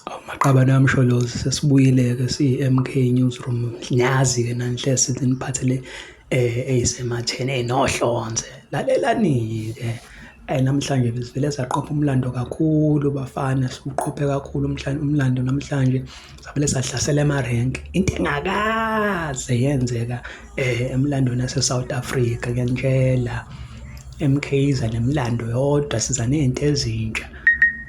Awu maqabane kaMsholozi sesibuyile-ke siyi-M_K Newsroom, niyazi-ke nani hle seniniphathele eyisematheni eyinohlonze. Lalelani-ke namhlanje besivele saqopha umlando kakhulu bafana, siwuqophe kakhulu umhlangano umlando namhlanje. savele sahlasela emarenk into engakaze yenzeka eh emlandweni yase-south africa kuyantshela emkhiza nemlando yodwa siza ney'nto ezintsha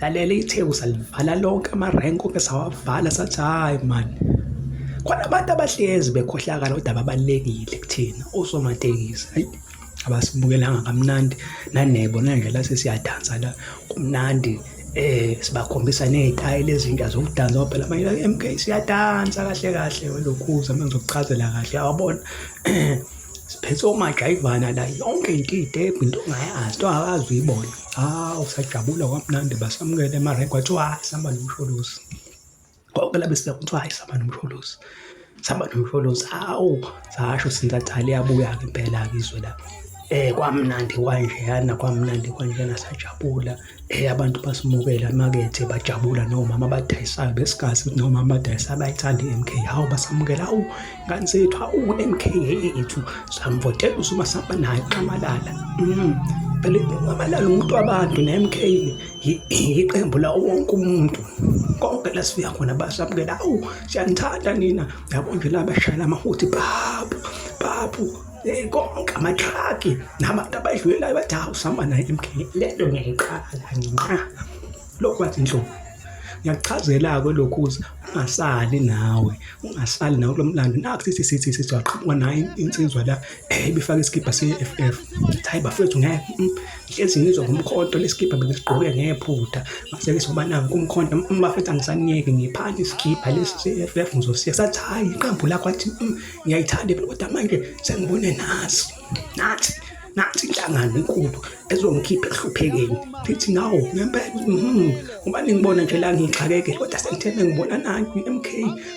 lalela itheku salivala lonke amarenk onke sawavala sathi hhayi mani khona abantu abahlezi bekhohlakala kodwa babalulekile kuthina osomatekisi abasibukelanga kamnandi nanebo nanje la sesiyadansa la kumnandi eh sibakhombisa nezitayile ezintsha zokudansa ngoba phela manje MK siyadansa kahle kahle welokhuza manje ngizokuchazela kahle awabona siphethe omajayivana la yonke into idebhu into ongayazi into akazi uyibona hawu sajabula kwamnandi basamukele emarenki kwathiwa sihamba nomsholozi konke labe sibeka kuthiwa hayi sihamba nomsholozi sihamba nomsholozi hawu sasho sintatali yabuya-ke impela-ke izwe la eh kwamnandi kwanjeyana kwamnandi kwanjena sajabula eh abantu basimukela emakethe bajabula nomama abadayisayo besikhathi ukuthi nomama abadayisa abayithanda i-MK hawu basamukela hawu ngane zethu hawu MK yethu samvotela usuma samba naye uxamalala mm phela uxamalala umuntu wabantu ne-MK yiqembu lawo wonke umuntu konke la sifika khona basamukela awu siyanithanda nina yabo nje la bashayela amahuthi bhabu bhabu eh, konke amatraki nabantu abadlulelayo bathi hawu sihamba naye emkheni le nto ngiyayiqala nginqa lokhu bathi nhlobo ngiyakuchazela-ke lokhu ukuthi ungasali nawe ungasali nawe kulo mlando nakho sithi sithi sithi waqhamuka nayo insizwa la eh, ibifake isikibha se-f f hayi bafethu ngeke mm. hlezi ngizwa ngomkhonto lesikibha bengisigqoke ngephutha ngase ngizoba nangu umkhonto umafethu angisaniyeki ngiphathe isikibha lesi se-ff ngizosiya sathi hhayi iqembu lakho athi mm, ngiyayithanda kodwa manje sengibone nasi nathi nathi inhlangano enkulu ezongikhipha ehluphekeni thithi nawo ngempela mhm, ngoba ningibona nje la ngixakekele kodwa sengitheme ngibona nayo i-mk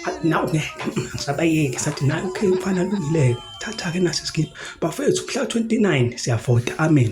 athi nawo ngeke ngisabayeke sathi nayo okay mfana lungileyo thatha-ke nasi isikibha bafethu mhla 29 siyavota amen